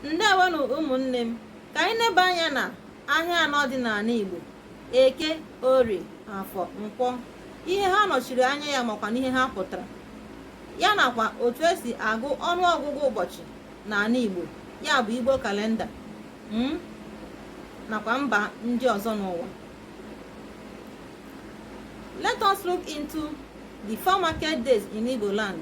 ndewonụ ụmụnne m ka anyị neba anya na ahịa anọ dị n'ala Igbo eke orie afọ nkwọ ihe ha nọchiri anya ya makwa n'ihe ha pụtara ya nakwa otu esi agụ ọnụ ọgụgụ ụbọchị n'ala Igbo ya bụ Igbo kalenda hmm, nakwa mba ndị ọzọ n'ụwa let us look into the four market days in Igbo land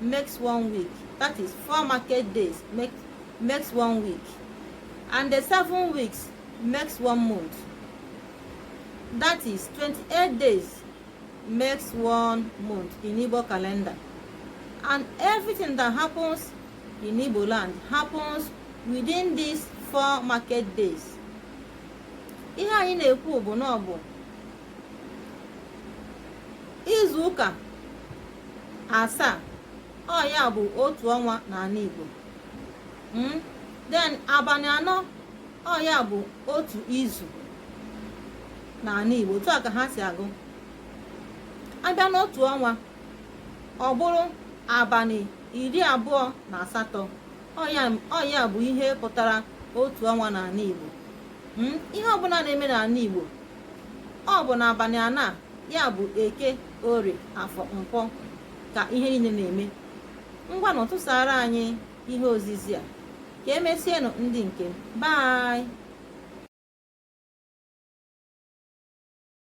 makes one week that is four market days make, makes one week and the seven weeks makes one month that is 28 days makes one month in Igbo calendar and everything that happens in Igbo land happens within these four market days ihe anyị na-ekwu bụ na ọ bụ izu ụka asaa ọ ya bụ otu ọnwa n'ala Igbo hmm? then abalị anọ ọ ya bụ otu izu n'ala Igbo otu a ka ha si agụ a bịa n'otu ọnwa ọ bụrụ abalị iri abụọ na asatọ ọ ya bụ ihe pụtara otu ọnwa n'ala Igbo hmm? ihe ọbụla na-eme n'ala Igbo ọ bụ n'abalị anọ ya bụ eke orie afọ nkwọ ka ihe niile na-eme ngwanụ tụsaara anyị ihe ozizi a ka emesienụ ndị nke m